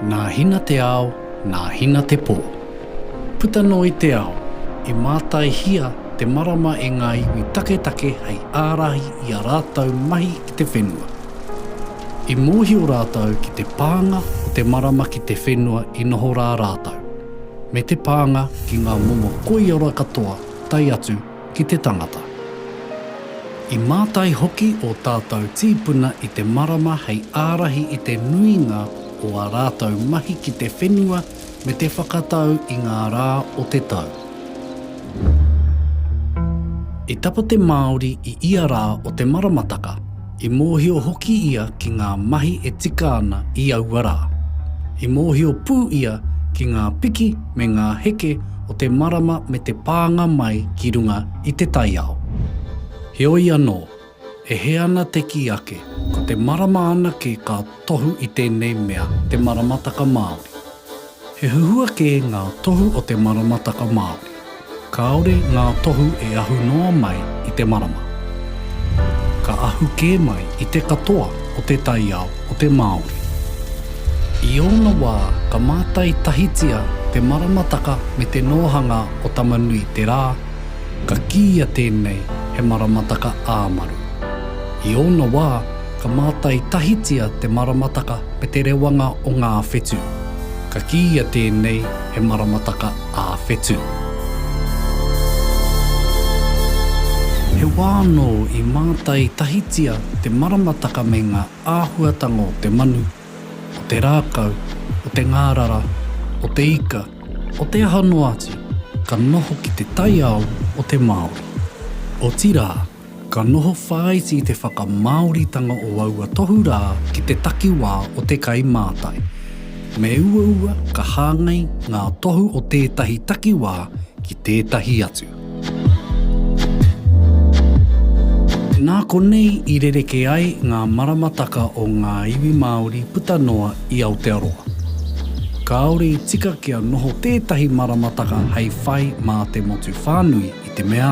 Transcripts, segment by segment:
Nā Hina te ao, nā Hina te pō. Puta noa i te ao, i mātaihia te marama e ngā iwi taketake hei ārahi i a rātou mahi i te whenua. I mōhio rātou ki te pānga o te marama ki te whenua i noho rā rātou. me te pānga ki ngā momo koiora katoa tae atu ki te tangata. I mātai hoki ō tātou tīpuna i te marama hei ārahi i te nuinga o ā rātou mahi ki te whenua me te whakatau i ngā rā o te tau. I tapa te Māori i ia rā o te maramataka, i mōhio hoki ia ki ngā mahi e tika ana i aua rā. I mōhio pū ia ki ngā piki me ngā heke o te marama me te pānga mai ki runga i te taiao. Heoi anō, E hē ana te kī ake, ko te marama anake ka tohu i tēnei mea te maramataka Māori. He huhua kē ngā tohu o te maramataka Māori. Kāore ngā tohu e ahu noa mai i te marama. Ka ahu kē mai i te katoa o te taiao o te Māori. I ōna wā ka mātai tahitia te maramataka me te nōhanga o Tamanui-te-rā, Ka kīia tēnei he maramataka ā-maru. I ōna wā, ka mātai tahitia te maramataka me te rewanga o ngā whetū. Ka kīia tēnei he maramataka ā-whetū. He wā anō i mātai tahitia te maramataka me ngā āhuatanga o te manu o te rākau, o te ngārara, o te ika, o te aha noa atu, ka noho ki te taiao o te Māori. Otirā, ka noho whāiti i te whakamāoritanga o aua tohu rā ki te takiwā o te kai mātai. Me uaua ka hāngai ngā tohu o tētahi takiwā ki tētahi atu. Nā konei i rerekē ai ngā maramataka o ngā iwi Māori puta noa i Aotearoa. Kāore i tika kia noho tētahi maramataka hei whai mā te motu whānui i te mea,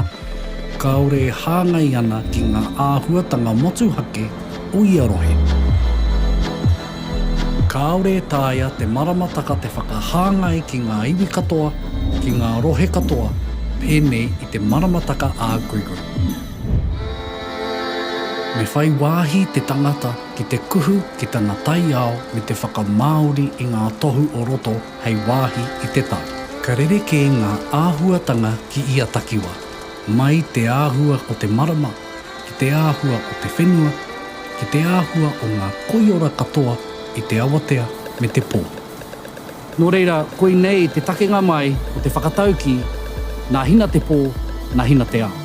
kāore e hāngai ana ki ngā āhuatanga motuhake o ia rohe. Kāore e taea te maramataka te whakahāngai ki ngā iwi katoa, ki ngā rohe katoa, pēnei i te maramataka ā-kuiku. Me whai wāhi te tangata ki te kuhu ki tana taiao me te whakamāori i ngā tohu o roto hei wāhi i te tau. Ka rerekē ngā āhuatanga ki ia takiwā, mai te āhua o te marama, ki te āhua o te whenua, ki te āhua o ngā koiora katoa i te awatea me te pō. Nō reira, koinei te takenga mai o te whakataukī, Nā Hina te pō, nā Hina te ao.